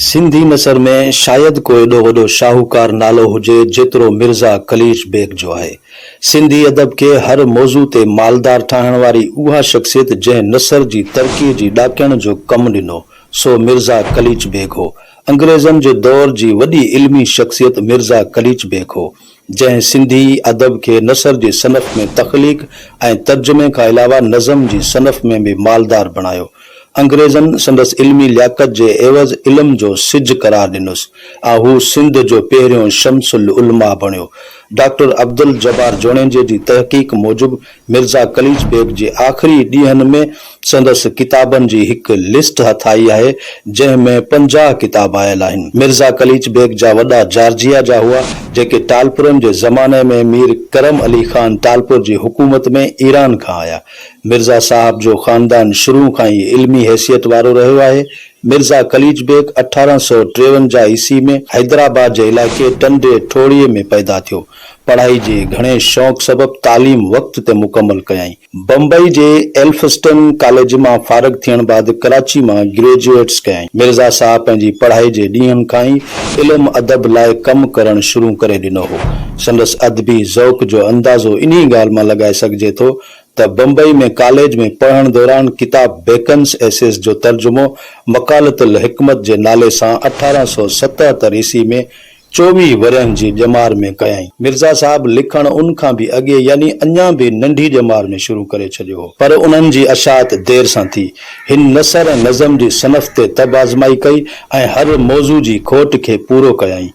سنڌي نثر ۾ شايد ڪو ايڏو وڏو شاهوڪار نالو هجي جيترو مرزا قليچ بيگ جو آهي. سنڌي ادب کي هر موضوع تي مالدار ٺاهڻ واري اها شخصيت جنهن نثر جي ترقيء جي ڏاڪڻ جو ڪم ڏنو سو مرزا قليچ بيگ هو. انگريزن جي دور جي وڏي علمي شخصيت مرزا قليچ بيگ هو. جنهن سنڌي ادب کي نثر جي صنف ۾ تخليق ۽ ترجمي کان علاوه نظم جي صنف ۾ به مالدار بڻايو. انگريزن سندس علمي لياقت جي عيوض علم جو سج قرار ڏنس ۽ هو سنڌ جو پهريون شمس العلماء بڻيو. ڊاڪٽر عبدالجبار جوڻيجي جي تحقيق موجب مرزا قليچ بيگ جي آخري ڏينهن ۾ سندس ڪتابن جي هڪ لسٽ هٿ آئي آهي، جنهن ۾ پنجاهه ڪتاب آيل آهن. مرزا قليچ بيگ جا وڏا جارجيا جا هئا، جيڪي ٽالپرن جي زماني ۾ مير ڪرم علي خان ٽالپر جي حڪومت ۾ ايران کان آيا. مرزا صاحب جو خاندان شروع کان ئي علمي حيثيت وارو رهيو آهي. مرزا قليچ بيگ اٺارهن سؤ ٽيونجاهه عيسي ۾ حيدرآباد جي علائقي ٽنڊي ٺوڙهي ۾ پيدا ٿيو. پڙهائي جي گهڻي شوق سبب تعليم وقت تي مڪمل ڪيائين. بمبئي جي ايلفسٽن ڪاليج مان فارغ ٿيڻ بعد ڪراچي مان گريجوئيٽس ڪيائين. مرزا صاحب پنهنجي پڙهائي جي ڏينهن کان ئي علم ادب لاء ڪم ڪرڻ شروع ڪري ڏنو هو. سندس ادبي ذوق جو اندازو انهي ڳالهه مان لڳائي سگهجي ٿو ته بمبئي ۾ ڪاليج ۾ پڙهڻ دوران ڪتاب بيڪنس ايسيز جو ترجمو مقالة الحڪمة جي نالي سان اٺارهن سؤ ستهتر عيسي ۾ چوويهه ورهين جي ڄمار ۾ ڪيائين. مرزا صاحب لکڻ ان کان به اڳي يعني اڃا به ننڍي ڄمار ۾ شروع ڪري ڇڏيو هو. پر انهن جي اشاعت دير سان ٿي. هن نثر ۽ نظم جي صنف تي طب آزمائي ڪئي ۽ هر موضوع جي کوٽ کي پورو ڪيائين.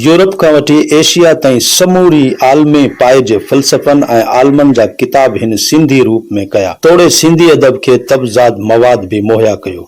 يورپ کان وٺي ايشيا تائين سموري عالمي پائي جي فلسفن ۽ عالمن جا ڪتاب هن سنڌي روپ ۾ ڪيا. توڙي سنڌي ادب کي طبزاد مواد به مهيا ڪيو.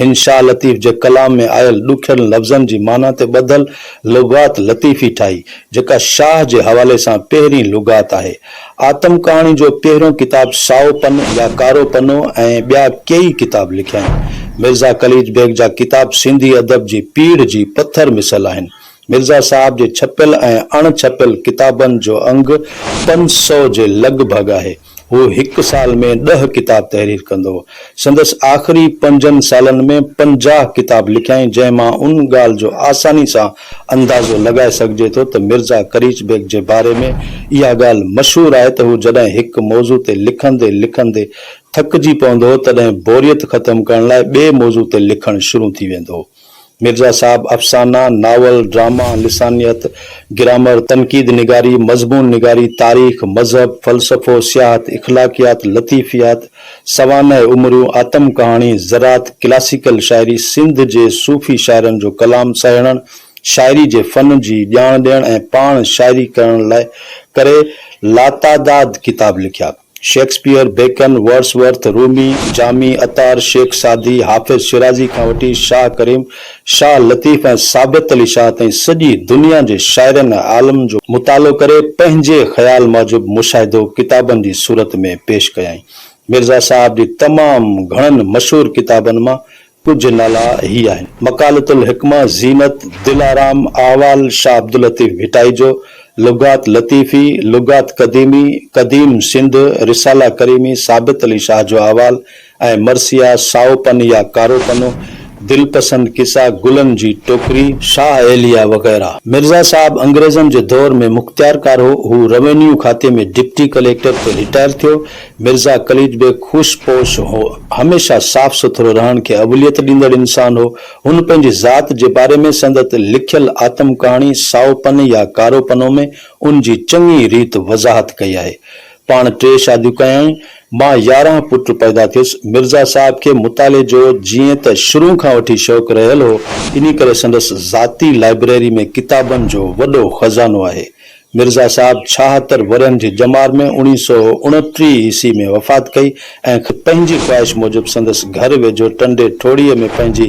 هن شاهه لطيف جي ڪلام ۾ آيل ڏکين لفظن جي معنيٰ تي ٻڌل لغات لطيفي ٺاهي، جيڪا شاهه جي حوالي سان پهرين لغات آهي. آتم ڪهاڻي جو پهريون ڪتاب سائو پن يا ڪارو پنو ۽ ٻيا ڪيئي ڪتاب لکيائين. مرزا قليچ بيگ جا ڪتاب سنڌي ادب جي پيڙهه جي پٿر مثل آهن. مرزا صاحب جي ڇپيل ۽ اڻ ڇپيل ڪتابن جو انگ پنج سئو جي لڳ ڀڳ آهي. هو هڪ سال ۾ ڏهه ڪتاب تحرير ڪندو هو. سندس آخري پنجن سالن ۾ پنجاهه ڪتاب لکيائين، جنهن مان ان ڳالهه جو آساني سان اندازو لڳائي سگهجي ٿو ته مرزا قريش بيگ جي باري ۾ اها ڳالهه مشهور آهي ته هو جڏهن هڪ موضوع تي لکندي لکندي ٿڪجي پوندو هو، تڏهن بوريت ختم ڪرڻ لاء ٻئي موضوع تي لکڻ شروع ٿي ويندو هو. مرزا صاحب افسانه، ناول، ڊراما، لسانيت، گرامر، تنقيد نگاري، مضمون نگاري، تاريخ، مذهب، فلسفو، سياحت، اخلاقيات، لطيفيات، سوانح عمريون، آتم ڪهاڻي، زراعت، ڪلاسيڪل شاعري، سنڌ جي صوفي شاعرن جو ڪلام سهيڙڻ، شاعري جي فن جي ڄاڻ ڏيڻ ۽ پاڻ شاعري ڪرڻ لاء ڪري لاتعداد ڪتاب لکيا. Shakespeare, Bacon, Wordsworth, Rumi, Jami, Attar, Sheikh Saadi, Hafiz Shirazi کان وٺي شاهه ڪريم، شاهه لطيف ۽ ثابت علي شاهه تائين سڄي دنيا جي شاعرن ۽ عالمن جو مطالعو ڪري پنهنجي خيال موجب مشاهدو ڪتابن جي صورت ۾ پيش ڪيائين. مرزا صاحب جي تمام گهڻن مشهور ڪتابن مان ڪجهه نالا هي آهن، مقالة الحڪمة، زينت، دلارام، احوال شاهه عبداللطيف ڀٽائي جو، لغات لطيفي، لغات قديمي، قديم سنڌ، رساله ڪريمي، ثابت علي شاهه جو احوال ۽ مرثيا، سائو پن يا ڪارو پنو، دلپسند قصا، گلن جي ٽوڪري، شاهه ايليا وغيره، مرزا صاحب انگريزن جي دور ۾ مختيارڪار هو، هو روينيو کاتي ۾ ڊپٽي ڪليڪٽر پوء رٽائر ٿيو، مرزا قليچ بيگ خوش پوش هو. هميشه صاف سٿرو رهڻ کي اوليت ڏيندڙ انسان هو. هن پنهنجي ذات جي باري ۾ سندت لکيل آتم ڪهاڻي سائو پن يا ڪارو پنو ۾ ان جي چڱي ريت وضاحت ڪئي آهي. پاڻ ٽي شاديون ڪيائين. مان يارهن پٽ پيدا ٿيس. مرزا صاحب کي مطالعي جو جيئن ته شروع کان وٺي شوق رهيل هو، انهي ڪري سندس ذاتي لائبريري ۾ ڪتابن جو وڏو خزانو آهي. مرزا صاحب ڇاهتر ورهين جي ڄمار ۾ اوڻيهه سؤ اڻٽيهه عيسوي ۾ وفات ڪئي ۽ خود پنهنجي خواهش موجب سندس گهر ويجهو ٽنڊي ٺوڙهيء ۾ پنهنجي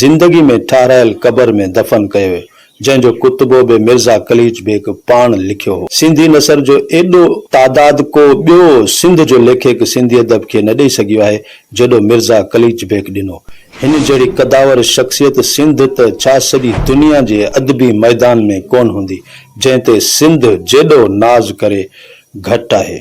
زندگي ۾ ٺهرايل قبر ۾ دفن ڪيو ويو، جنهن جو ڪتبو به مرزا قليچ بيگ پاڻ لکيو هو. سنڌي نثر جو ايڏو تعداد ڪو ٻيو سنڌ جو ليکڪ سنڌي ادب کي نه ڏئي سگهيو آهي، جيڏو مرزا قليچ بيگ ڏنو. هن جهڙي قداور شخصيت سنڌ ته ڇا سڄي دنيا جي ادبي ميدان ۾ ڪونه هوندي، جنهن تي سنڌ جيڏو ناز ڪري گهٽ آهي.